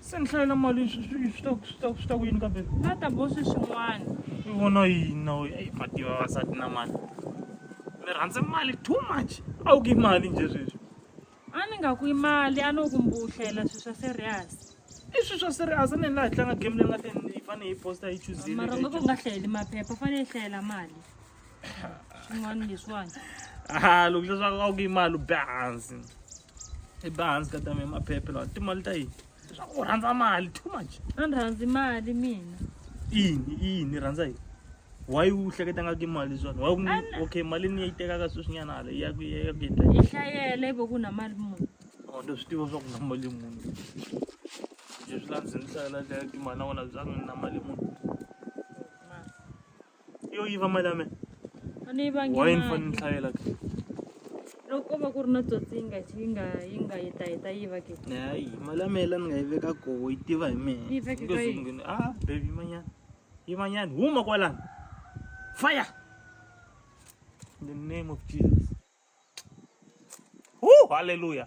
se ni hlayela mali swi ta swi ta swi ta ku yini kambe va ta bosi swin'wana i vona yini na wena eyi mativa vavasati na mali mi rhandze mali too much a wu ki mali nje sweswi a ni nga ku yi mali a no ku mbuhlela swilo swa serious i swilo swa serious a ni laha hi tlanga game leyi nga te ni fanele hi posta hi chuzile mara nga ku nga hlayeli maphepha u fanele hi hlayela mali swin'wana leswiwani a loko leswaku a ku yi mali u be hansi i be hansi ka tame maphephe lawa timali ta yini leswaku u rhandza mali too much a ni rhandzi mali mina ini ini rhandza yini why u hleketa nga ki mali swona why ku okay mali ni yi tekaka sweswi nyana hala ya ku ya ku yendla yi hlayela ibe ku na mali munhu oh ndo swi tiva swa ku na mali munhu leswi la ndzi ni hlayela le timali na wena bya ku na mali munhu yo yiva mali ya mina a ni yivangi why ni fanele ni tlhavela ke loko ko va ku ri na tsotsi yi nga yi nga yi nga yi ta yi ta yiva ke hayi mali ya mina la ni nga yi veka koho yi tiva hi mina Yi veke ka yini? Nge- ah baby yimanyana yimanyana huma kwalani fire in the name of jesus Woo, hallelujah